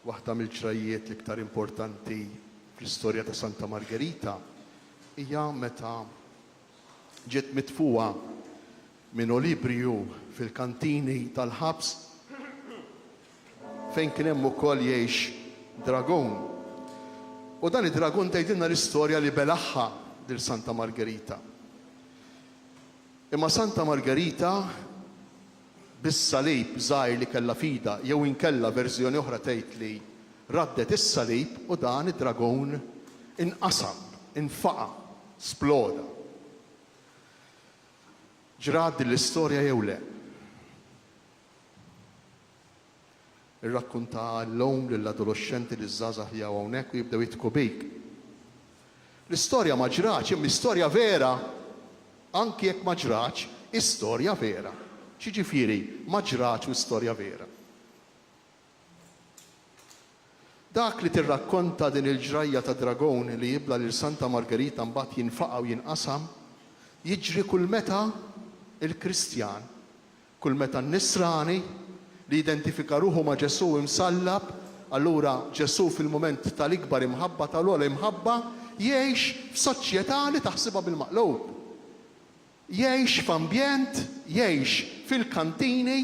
Waħda mill-ġrajjiet l-iktar importanti fl-istorja ta' Santa Margerita hija meta ġiet mitfugħa minn Olibriju fil-kantini tal-ħabs fejn kien hemm ukoll jgħix dragun. U dan id-dragun tgħidilna l-istorja li belagħha lil Santa Margerita. Imma Santa Margerita bis-salib żgħir li kellha f'idha jew inkella verżjoni oħra tgħid li raddet is-salib u dan id-dragun inqasam, infaqa', sploda. Ġrat din l-istorja jew le? Irrakkunta għall-omm, lill-adoloxxenti, liż-żgħażagħ li hawn hawnhekk u jibdew jidħku bik. L-istorja ma ġratx, imma hi storja vera. Anki jekk ma ġratx, hi storja vera. X'jiġifieri ma ġratx u hi storja vera? Dak li tirrakkonta din il-ġrajja ta' dragon li jibla' lil Santa Margherita mbagħad jinfaqa' u jinqasam, jiġri kull meta l-Kristjan Kull meta n-Nisrani, li jidentifika ruħu ma' Ġesù imsallab, allura Ġesù fil-mument tal-ikbar imħabba, tal-ogħla imħabba, jgħix f'soċjetà li taħsibha bil-maqlub. Jgħix f'ambjent, jgħix fil-kantini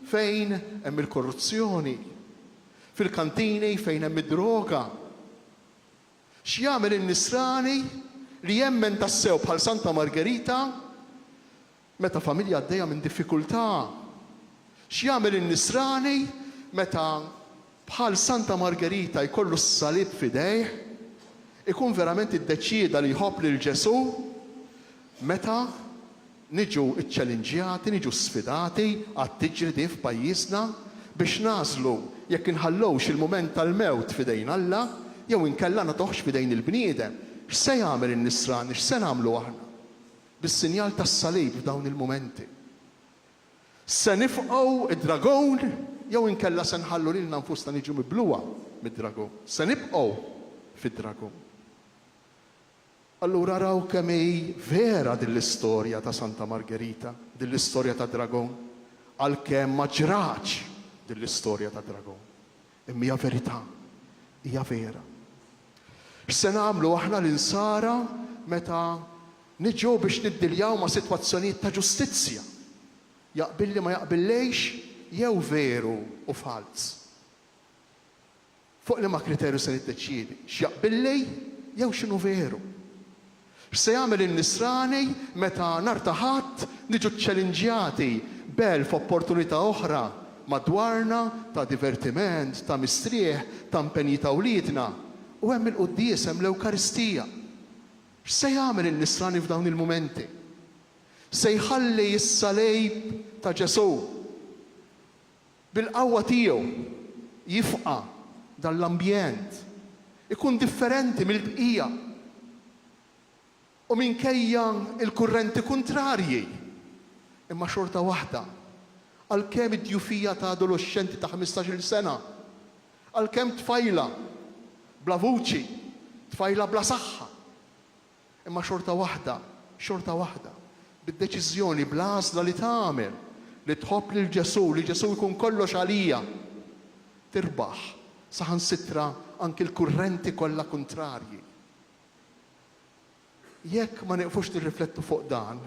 fejn hemm il-korruzzjoni, fil-kantini fejn hemm id-droga. X'jagħmel in-Nisrani li jemmen tassew bħal Santa Margerita Meta familja għaddejja minn diffikultà, x'jagħmel in-Nisrani meta, bħal Santa Margerita, jkollu s-salib f'idejh? Ikun verament iddeċieda li jħobb lil Ġesù? Meta niġu ċċelinġjati, niġu sfidati, għad tiġri din f'pajjiżna, biex nagħżlu jekk inħallux il-mument tal-mewt f'idejn Alla jew inkella nagħtuhx f'idejn il-bniedem, x'se jagħmel in-Nisrani, x'se nagħmlu aħna? Bis-sinjal tas-salib f'dawn il-mumenti, se nifqgħu d-dragun jew inkella se nħallu lilna nfusna niġu mibluha mid-dragun? Se nibqgħu fid-dragun? Allura raw kemm hi vera din l-istorja ta' Santa Margerita, din l-istorja tad-dragun, għalkemm ma ġratx din l-istorja tad-dragun. Imma hija verità. Hija vera. X'se nagħmlu aħna l-Insara meta niġu biex niddiljaw ma' sitwazzjonijiet ta' ġustizzja, jaqbilli ma jaqbillejx jew veru u falz? Fuq liema kriterju se niddeċiedi x'jaqbilli jew x'inhu veru? X'se jagħmel in-Nisrani meta nhar ta' Ħadd niġu ċċelinġjati b'elf opportunità oħra madwarna ta' divertiment, ta' mistrieħ, ta' mpenji ta' wliedna? U hemm il-quddies, hemm l-Ewkaristija. X'se jagħmel in-Nisrani f'dawn il-mumenti? Se jħalli s-salib ta' Ġesù? Bil-qawwa tiegħu jifqa' dan l-ambjent, ikun differenti mill-bqija u minkejja l-kurrenti kuntrarji, imma xorta waħda, għalkemm id-djufija ta' adoloxxenti ta' ħmistax-il sena, għalkemm tfajla bla vuċi, tfajla bla saħħa, Imma xorta waħda, xorta waħda, bid-deċiżjoni, bl-għażla li tagħmel li tħobb lil Ġesù, li Ġesù jkun kollox għalija, tirbaħ saħansitra anki l-kurrenti kollha kuntrarji. Jekk ma nieqfux nirriflettu fuq dan,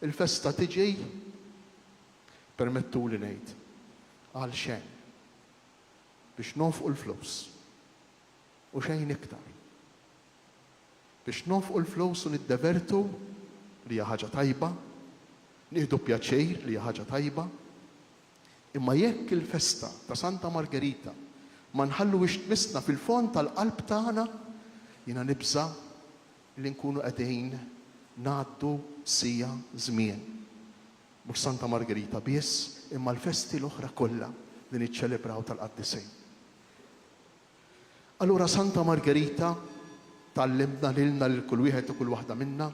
il-festa tiġi, permettuli ngħid, għalxejn. Biex nonfqu l-flus. u xejn iktar. Biex nonfqu l-flus u niddevertu, li hija ħaġa tajba, nieħdu pjaċir, li hija ħaġa tajba, imma jekk il-festa ta' Santa Margerita ma nħalluhiex tmissna fil-fond tal-qalb tagħna, jiena nibża' li nkunu qegħdin ngħaddu siegħa żmien. Mhux Santa Margerita biss, imma l-festi l-oħra kollha li niċċelebraw tal-Qaddisejn. Allura Santa Margerita tgħallimna lilna lil kull wieħed u kull waħda minna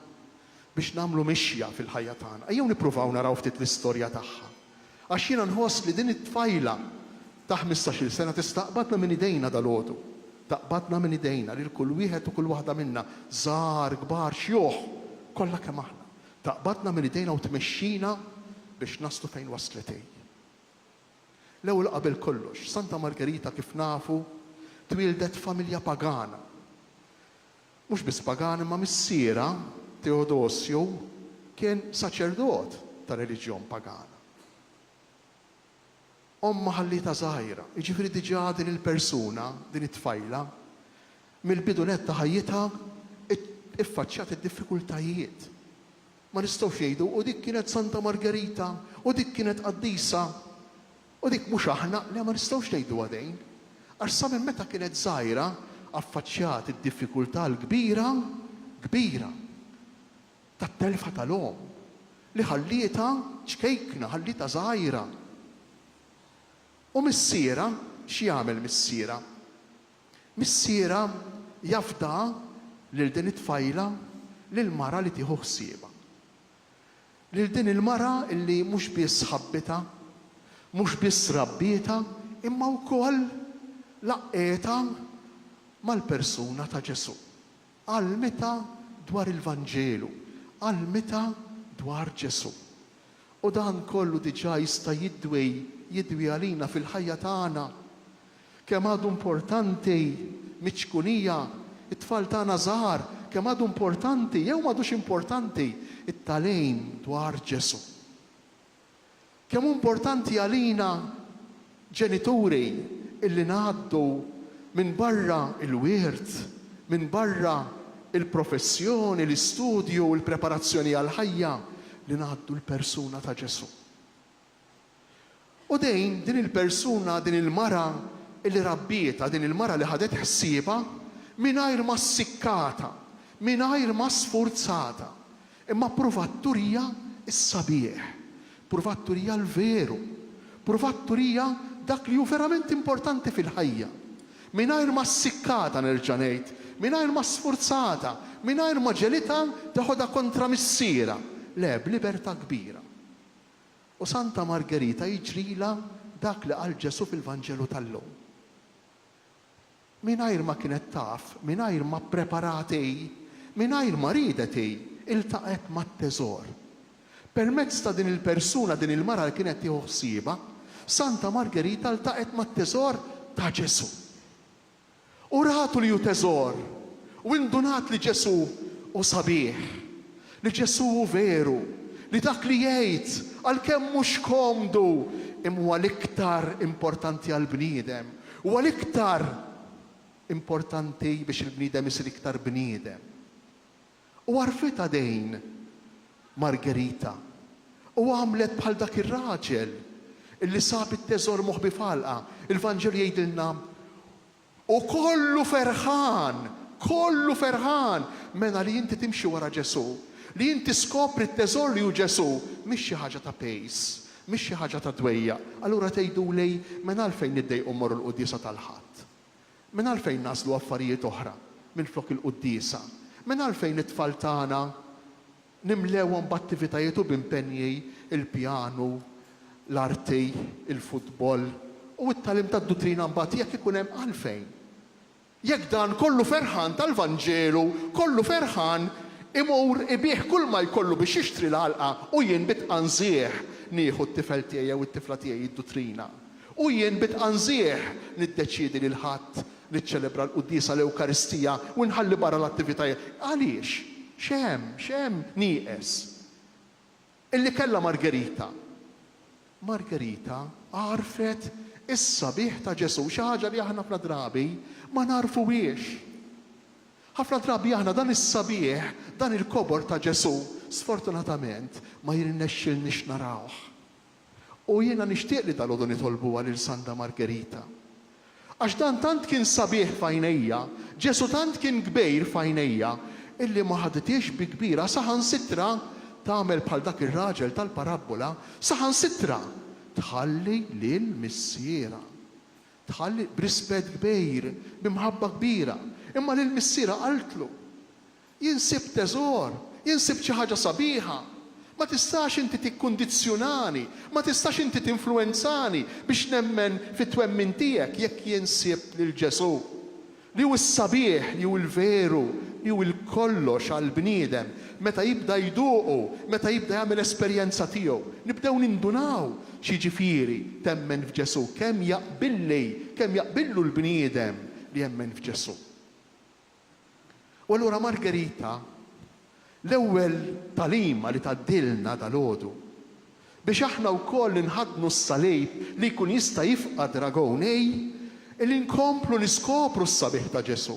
biex nagħmlu mixja fil-ħajja tagħna. Ejjew nippruvaw naraw ftit l-istorja tagħha. Għax jiena nħoss li din it-tfajla ta' ħmistax-il sena tista' taqbadna minn idejna dalgħodu. Taqbadna minn idejna lil kull wieħed u kull waħda minna, żgħar, kbar, xjuħ, kollha kemm aħna. Taqbadna minn idejna u tmexxina biex naslu fejn waslet hi. L-ewwel qabel kollox, Santa Margerita kif nafu twieldet f'familja pagana. Mhux biss pagana imma missierha, Teodosju, kien saċerdot ta' reliġjon pagana. Ommha ħallietha żgħira, jiġifieri diġà din il-persuna, din it-tfajla, mill-bidu nett ta' ħajjitha iffaċċjat id-diffikultajiet. Ma nistgħux ngħidu, u dik kienet Santa Margerita, u dik kienet qaddisa, u dik mhux aħna, le ma nistgħux ngħiduha dejn. Għax sa minn meta kienet żgħira affaċċjat id-diffikultà l-kbira, kbira, tat-telfa tal-omm, li ħallietha ċkejkna, ħallietha żgħira. U missierha, x'jagħmel missierha? Missierha jafdaha lil din it-tfajla lil mara li tieħu ħsiebha. Lil din il-mara li mhux biss ħabbitha, mhux biss rabbietha imma wkoll laqqietha mal-persuna ta' Ġesù. Għallmitha dwar il-Vanġelu, għallmitha dwar Ġesù. U dan kollu diġà jista' jidwi, jidwi għalina fil-ħajja tagħna. Kemm għadu importanti miċ-ċkunija, it-tfal tagħna żgħar, kemm għadu importanti, jew m'għadux importanti, it-tagħlim dwar Ġesù. Kemm hu importanti għalina ġenituri illi ngħaddu minn barra l-wirt, minn barra l-professjoni, l-istudju, il-preparazzjoni għall-ħajja, li ngħaddu l-persuna ta' Ġesù. U din, din il-persuna, din il-mara li rabbietha, din il-mara li ħadet ħsiebha, mingħajr ma ssikkatha, mingħajr ma sfurzatha, imma ppruvat turija s-sabiħ, ppruvat turija l-veru, ppruvat turija dak li hu verament importanti fil-ħajja, mingħajr ma ssikkatha, nerġa' ngħid, mingħajr ma sfurzatha, mingħajr ma ġegħlitha teħodha kontra missierha, le, b'libertà kbira. U Santa Margerita jiġrilha dak li qal Ġesù fil-Vanġelu tal-lum. Mingħajr ma kienet taf, mingħajr ma ppreparat hi, mingħajr ma riedet hi, iltaqgħet mat-teżor. Permezz ta' din il-persuna, din il-mara li kienet tieħu ħsiebha, Santa Margerita ltaqgħet mat-teżor ta' Ġesù. u ratu li hu teżor u indunat li Ġesù hu sabiħ, li Ġesù hu veru, li dak li jgħid, għalkemm mhux komdu, imma huwa l-iktar importanti għall-bniedem, huwa l-iktar importanti biex il-bniedem isir iktar bniedem. u għarfetha dejn Margherita u għamlet bħal dak ir-raġel li sab it-teżor moħbi f'għalqa. Il-Vanġelu jgħidilna, U kollu ferħan, kollu ferħan! Mela li inti timxi wara Ġesù, li inti skopri t-teżor li hu Ġesù, mhix xi ħaġa ta' pejs, mhix xi ħaġa ta' dwejjaq. Allura tgħiduli, mela għalfejn niddejqu mmorru l-quddiesa tal-Ħadd? Minn għalfejn nagħżlu affarijiet oħra minflok il-quddiesa? Minn għalfejn it-tfal tagħna nimlewhom b'attivitajiet u b'impenji l-pjanu, l-arti, il-futbol, u t-tagħlim tad-duttrina mbagħad jekk ikun hemm għalfejn? Jekk dan kollu ferħan tal-Vanġelu, kollu ferħan, imur ibigħ kulma jkollu biex jixtri l-għalqa u jien bi tqanżiegħ nieħu t-tifel tiegħi jew it-tifla tiegħi d-duttrina? U jien bi tqanżiegħ niddeċiedi li l-Ħadd niċċelebra l-quddiesa, l-Ewkaristija, u nħalli barra l-attivitajiet. Għaliex? X'hemm, x'hemm nieqes? Illi kellha Margherita? Margherita għarfet is-sabiħ ta' Ġesù, xi ħaġa li aħna ħafna drabi ma nagħrfuhiex. Ħafna drabi aħna dan is-sabiħ, dan il-kobor ta' Ġesù, sfortunatament ma jirnexxilniex narawh. U jiena nixtieq li dalgħodu nitolbuha lil Santa Margerita. Għax dan tant kien sabiħ f'għajnejja, Ġesù tant kien kbejr f'għajnejja, illi ma ħadithiex bi kbira saħansitra tagħmel bħal dak ir-raġel tal-parabbola, saħansitra tħalli lil missierha. Tħalli, b'rispett kbejr, b'imħabba kbira, imma lil missierha qaltlu, Jien sibt teżor, jien sibt xi ħaġa sabiħa. Ma tistax inti tikkundizzjunani, ma tistax inti tinfluwenzani biex nemmen fit-twemmin tiegħek jekk jien sibt lil Ġesù, li hu s-sabiħ, li hu l-veru, li hu l-kollox għall-bniedem, meta jibda jduqu, meta jibda jagħmel esperjenza tiegħu. Nibdew nindunaw x'jiġifieri temmen f'Ġesù, kemm jaqbilli, kemm jaqbillu l-bniedem li jemmen f'Ġesù. U allura Margherita, l-ewwel tagħlima li tgħaddilna dalgħodu, biex aħna wkoll inħaddnu s-salib li jkun jista' jifqa' dragon hi li nkomplu niskopru s-sabiħ ta' Ġesù.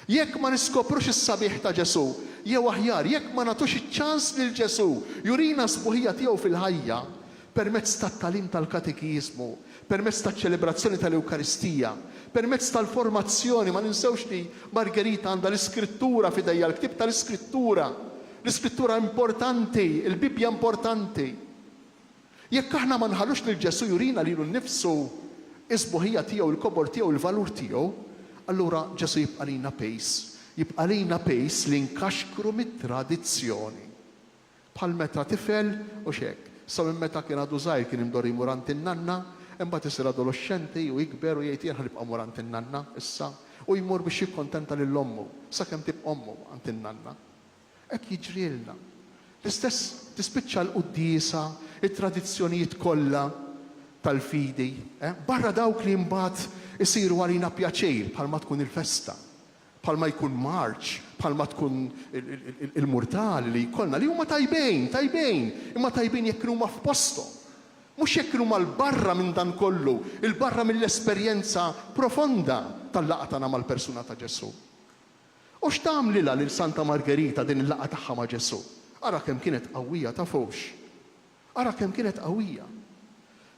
Jekk ma niskoprux is-sabiħ ta' Ġesù, jew aħjar, jekk ma nagħtux iċ-ċans lil Ġesù jurina s-sbuħija tiegħu fil-ħajja, permezz tat-tagħlim tal-katekiżmu, permezz taċ-ċelebrazzjoni tal-Ewkaristija, permezz tal-formazzjoni, ma ninsewx li Margherita għandha l-Iskrittura f'idejha, l-ktieb tal-Iskrittura, l-Iskrittura importanti, il-Bibbja importanti. Jekk aħna ma nħallux lil Ġesù jurina lilu nnifsu, is-sbuħija tiegħu, il-kobor tiegħu, il-valur tiegħu, allura Ġesù jibqa' lilna pejs, jibqa' lilna pejs li nkaxkru mit-tradizzjoni. Bħal meta tifel, hux hekk? Sa minn meta kien għadu żgħir kien imdorri jmur għand in-nanna, imbagħad isir adoloxxenti u jikber u jgħid jien ħa nibqa' mmur għand in-nanna issa. U jmur biex jikkuntenta lil ommu, sakemm tibqa' ommu għand in-nanna. Hekk jiġrilna. L-istess tispiċċa l-quddiesa, it-tradizzjonijiet kollha tal-fidi, barra dawk li mbagħad isiru għalina pjaċir bħalma tkun il-festa. bħalma jkun marċ, bħalma tkun il-murtali li jkollna, li huma tajbin, tajbin, imma tajbin jekk kienu huma f'posthom. Mhux jekk kienu huma 'l barra minn dan kollu, 'il barra mill-esperjenza profonda tal-laqgħa tagħna mal-persuna ta' Ġesù. U x'tagħmlilha lil Santa Margerita din il-laqgħa tagħha ma' Ġesù? Ara kemm kienet qawwija, tafux? Ara kemm kienet qawwija!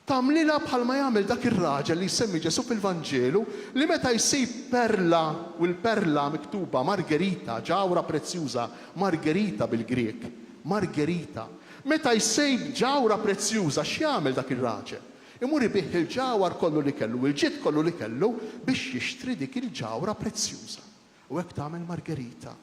Tagħmlilha bħalma jagħmel dak ir-raġel li jsemmi Ġesù fil-Vanġelu li meta jsib perla u l-perla miktuba Margerita, ġawhra prezzjuża, margherita bil-Grieg, margherita. Meta jsib ġawhra prezzjuża x'jagħmel dak ir-raġel? Imur ibigħ il-ġawhar kollu li kellu u l-ġid kollu li kellu biex jixtri dik il-ġawhra prezzjuża. U hekk tagħmel Margerita.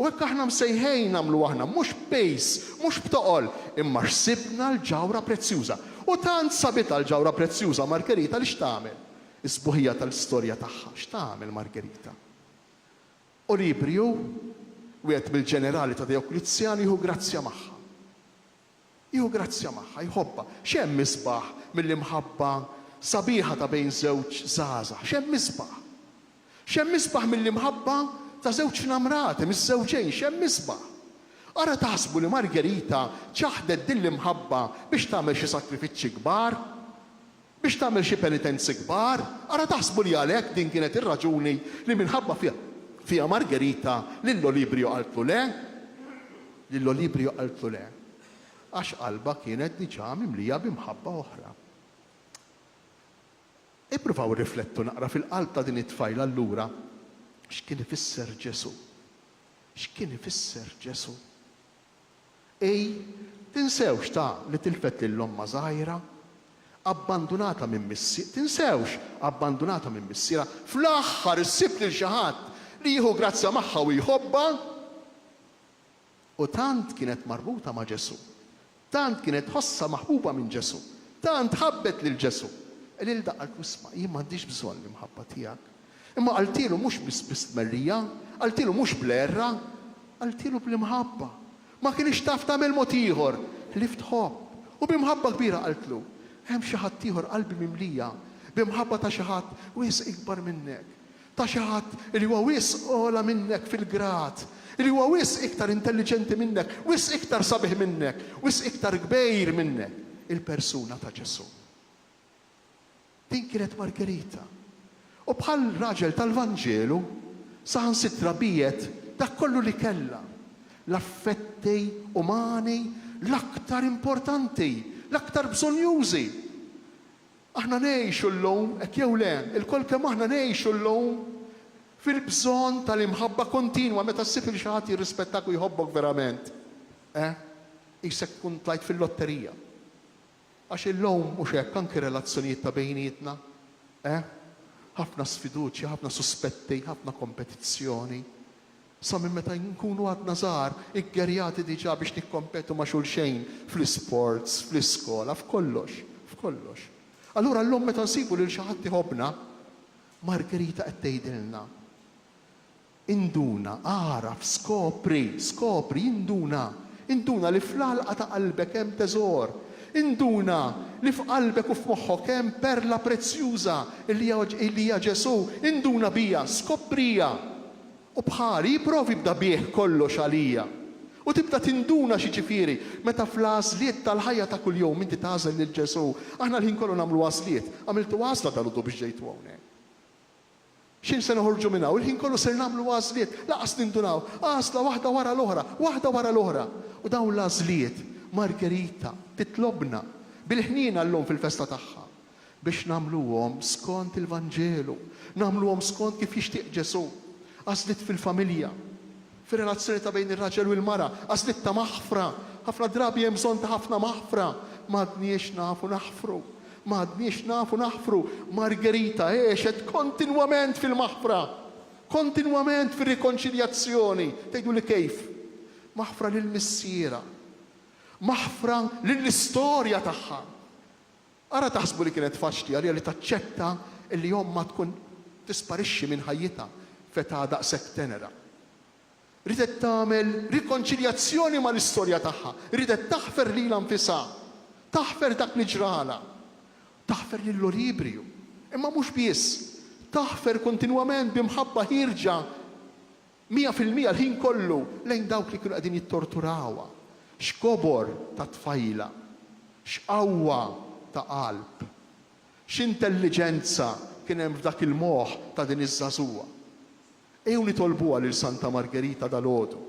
U hekk aħna msejħejn nagħmlu aħna, mhux b'pejs, mhux b'toqol, imma xsibna l-ġawhra prezzjuża. U tant sabitha l-ġawhra prezzjuża Margherita li x'tagħmel? Is-sbuħija tal-istorja tagħha, x'tagħmel Margherita? Olibriu, wieħed mill-ġenerali ta' Dejoklizjan jieħu grazzja magħha. Jieħu grazzja magħha, jħobbha. X'hemm isbaħ milli mħabba sabiħa ta' bejn żewġ żgħażagħ? X'hemm isbaħ? X'hemm isbaħ milli mħabba ta' żewġ nnammrati, miżżewġejn? X'hemm isbaħ? Ara taħsbu li Margherita ċaħdet din l-imħabba biex tagħmel xi sakrifiċċji kbar? biex tagħmel xi penitenzi kbar, ara taħsbu li għalhekk din kienet ir-raġuni li minħabba fiha Margherita lil Olibrio qaltlu le? Lil Olibrio qaltlu le, għax qalbha kienet diġà mimlija bi mħabba oħra. Ippruvaw irriflettu naqra fil-qalb ta' din it-tfajla allura x'kien ifisser Ġesù. X'kien ifisser Ġesù? Ii, Tinsewx ta' li tilfet lil ommha żgħira, abbandunata minn missier, tinsewx, abbandunata minn missierha, fl-aħħar issib lil xi ħadd li jieħu grazzja magħha u jħobbha. U tant kienet marbuta ma' Ġesù, tant kienet tħossha maħbuba minn Ġesù, tant ħabbet lil Ġesù, qililha, qaltlu, 'Isma', jien m'għandix bżonn l-imħabba tiegħek, Imma qaltielu mhux biss bi stmerrija, qaltielu mhux bl-għerra, qaltielu bl-imħabba. Ma kinitx taf tagħmel mod ieħor ħlief tħobb. U bi mħabba kbira qaltlu, Hemm xi ħadd ieħor qalbi mimlija b'imħabba ta' xi ħadd wisq ikbar minnek, ta' xi ħadd li huwa wisq ogħla minnek fil-grad, li huwa wisq iktar intelliġenti minnek, wisq iktar sabiħ minnek, wisq iktar kbejr minnek, il-persuna ta' Ġesù. Din kienet Margherita. U bħal raġel tal-Vanġelu, saħansitra biegħet dak kollu li kellha, l-affetti umani l-aktar importanti, l-aktar bżonnjużi. Aħna ngħixu llum, hekk jew le, ilkoll kemm aħna ngħixu llum fil-bżonn tal-imħabba kontinwa meta ssib lil xi ħadd jirrispettak u jħobbok verament. Eh, qisek tkun tlajt fil-lotterija. Għax illum, mhux hekk, anki relazzjonijiet ta' bejnietna, eh? Ħafna sfiduċja, ħafna suspetti, ħafna kompetizzjoni. Sa minn meta nkunu għadna żgħar, iggerjati diġà biex nikkompetu ma' xulxejn fl-isports, fl-iskola, f'kollox, f'kollox. Allura llum meta nsibu lil xi ħadd iħobbna, Margherita qed tgħidilna, Induna, agħraf, skopri, skopri, induna, induna li fl-għalqa ta' qalbek hemm teżor, induna li f'qalbek u f'moħħok hemm perla prezzjuża li hija Ġesù, induna biha, skopriha, u bħali ipprovi bda bih kollox għalija, u tibda tinduna x'jiġifieri meta fl-għażliet tal-ħajja ta' kuljum inti tagħżel lil Ġesù. Aħna l-ħin kollu nagħmlu għażliet. Għamiltu għażla dalgħodu biex ġejtu hawnhekk? Xejn se noħorġu minn hawn, il-ħin kollu ser nagħmlu għażliet, lanqas nindunaw, għażla waħda wara l-oħra, waħda wara l-oħra. U dawn l-għażliet, Margherita titlobna bil-ħniena llum fil-festa tagħha, biex nagħmluhom skont il-Vanġelu, nagħmluhom skont kif jixtieq Ġesù. Għażliet fil-familja. fir-relazzjoni ta' bejn ir-raġel u l-mara, għażliet ta' maħfra. Ħafna drabi hemm bżonn ta' ħafna maħfra. M'għadniex nafu naħfru. M'għadniex nafu naħfru. Margherita għexet kontinwament fil-maħfra. Kontinwament fir-rikonċiljazzjoni. Tgħiduli kif? Maħfra lil missierha. Maħfra lill-istorja tagħha. Ara taħsbu li kienet faċli għaliha li taċċetta li ommha tkun tisparixxi minn ħajjitha f'età daqshekk tenera. Riedet tagħmel rikonċiljazzjoni mal-istorja tagħha, riedet taħfer lilha nfisha, taħfer dak li ġralha, taħfer lil Olibriju, imma mhux biss, taħfer kontinwament bi mħabba ħierġa Mija fil-mija l-ħin kollu lejn dawk li kienu qegħdin jittorturawha. X'kobor ta' tfajla! X'qawwa ta' qalb! X'intelliġenza kien hemm f'dak il-moħħ ta' din iż-żagħżugħa! Ejjew nitolbuha lil Santa Margerita dalgħodu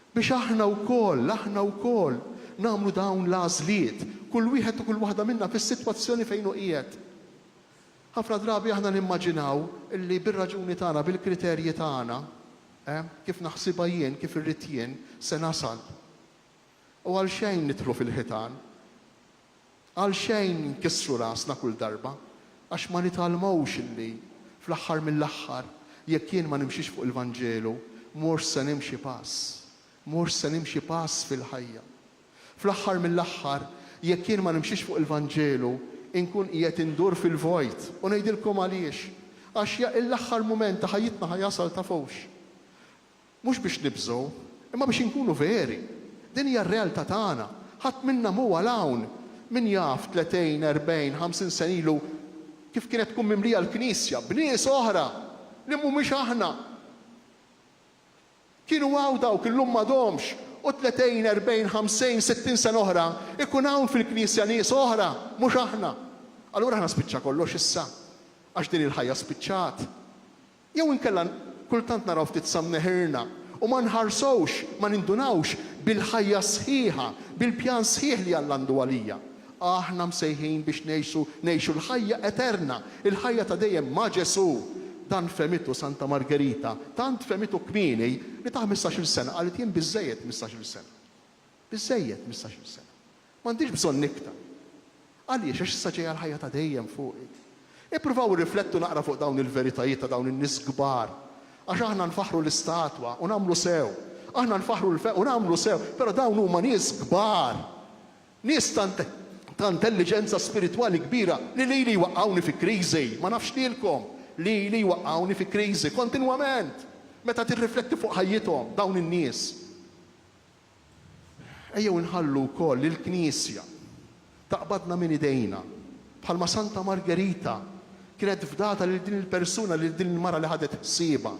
biex aħna wkoll, aħna wkoll nagħmlu dawn l-għażliet, kull wieħed u kull waħda minna fis-sitwazzjoni fejn hu qiegħed. Ħafna drabi aħna nimmaġinaw li bir-raġuni tagħna, bil-kriterji tagħna, kif naħsibha jien, kif irrid jien, se nasal. U għalxejn nidħlu fil-ħitan. Għalxejn inkissru rasna kull darba. Għax ma nitgħallmux li, fl-aħħar mill-aħħar, jekk jien ma nimxix fuq il-Vanġelu, mhux se nimxi pass. Mhux se nimxi pass fil-ħajja. Fl-aħħar mill-aħħar, jekk jien ma nimxix fuq il-Vanġelu, inkun qiegħed indur fil-vojt. U ngħidilkom għaliex, għax jekk l-aħħar mument ta' ħajjitna ħa jasal tafux, mhux biex nibżgħu, imma biex inkunu veri. Din hija r-realtà tagħna. Ħadd minna mhu għal hawn. Min jaf tletejn, erbgħin, ħamsin sena ilu kif kienet tkun mimlija l-Knisja b'nies oħra li mhumiex aħna. Kienu hawn dawk illum m'għadhomx, u tnetejn, erbgħin, ħamsejn, sittin sena oħra jkun hawn fil-Knisja nies oħra, mhux aħna. Allura aħna spiċċa kollox issa, għax din il-ħajja spiċċat. Jew inkella kultant naraw ftit sa mneħirna u ma nħarsux, ma nindunawx bil-ħajja sħiħa, bil-pjan sħiħ li Alla għandu għalija. Aħna msejħin biex ngħixu ngħixu l-ħajja eterna, il-ħajja ta' dejjem ma' Ġesù. Dan fehmitu Santa Margerita, tant fehmitu kmieni li ta' ħmistax-il sena qalet jien biżżejjed mistax-il sena. Biżżejjed mistax-il sena. M'għandix bżonn iktar. Għaliex? Għax issa ġejja l-ħajja ta' dejjem fuqi. Ippruvaw irriflettu naqra fuq dawn il-veritajiet ta' dawn in-nies kbar. Għax aħna nfaħħru l-istatwa u nagħmlu sew. Aħna nfaħħru l-fe u nagħmlu sew, però dawn huma nies kbar. Nies tant ta' intelliġenza spiritwali kbira li lili jwaqqgħuni fi kriżi. Ma nafx lilkom, lili jwaqqgħuni fi kriżi kontinwament meta tirrifletti fuq ħajjithom dawn in-nies. Ejjew inħallu wkoll lill-Knisja taqbadna minn idejna Bħalma Santa Margerita kienet fdata lil din il-persuna, lil din il-mara li ħadet ħsiebha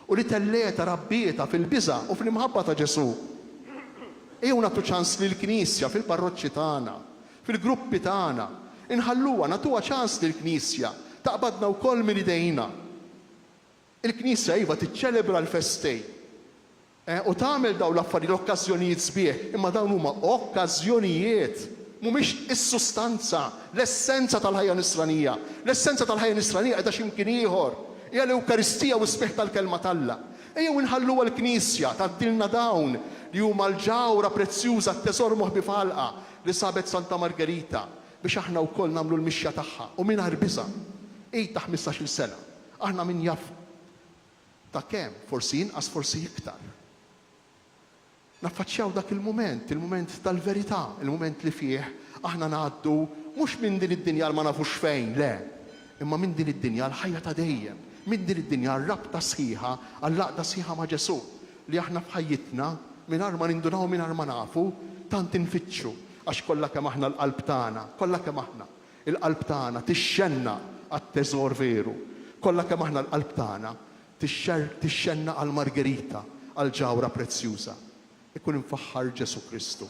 u li tellgħetha, rabbietha fil-biża' u fl-imħabba ta' Ġesù. Ejjew nagħtu ċans lill-Knisja fil-parroċċi tagħna, fil-gruppi tagħna. Inħalluha, nagħtuha ċans lill-Knisja taqbadna wkoll minn idejna. Il-Knisja iva tiċċelebra l-festi, U tagħmel dawn l-affarijiet, l-okkażjonijiet sbieħ, imma dawn huma okkażjonijiet, mhumiex is-sustanza, l-essenza tal-ħajja Nisranija. L-essenza tal-ħajja Nisranija qiegħda xi mkien ieħor, hija l-Ewkaristija u s-sbieħ tal-Kelma t'Alla. Ejjew inħallu għall-Knisja tgħaddilna dawn li huma l-ġawhra prezzjuża, t-teżor moħbi f'għalqa li sabet Santa Margerita, biex aħna wkoll nagħmlu l-mixja tagħha u mingħajr biża'. Għid ta' ħmistax-il sena, aħna min jaf. Ta' kemm? Forsi inqas, forsi iktar. Naffaċċjaw dak il-mument, il-mument tal-verità, il-mument li fih aħna ngħaddu mhux minn din id-dinja għal ma nafux fejn, le, imma minn din id-dinja għall-ħajja ta' dejjem, minn din id-dinja għar-rabta sħiħa, għall-għaqda sħiħa ma' Ġesù, li aħna f'ħajjitna, mingħajr ma nindunaw u mingħajr ma nafu, tant infittxu, għax kollha kemm aħna l-qalb tagħna, kollha kemm aħna, Il-qalb tagħna tixxennaq għat-teżor veru. Kollha kemm aħna l-qalb tagħna tixxennaq għal Margherita, għal ġawhra prezzjuża. Ikun imfaħħar Ġesù Kristu.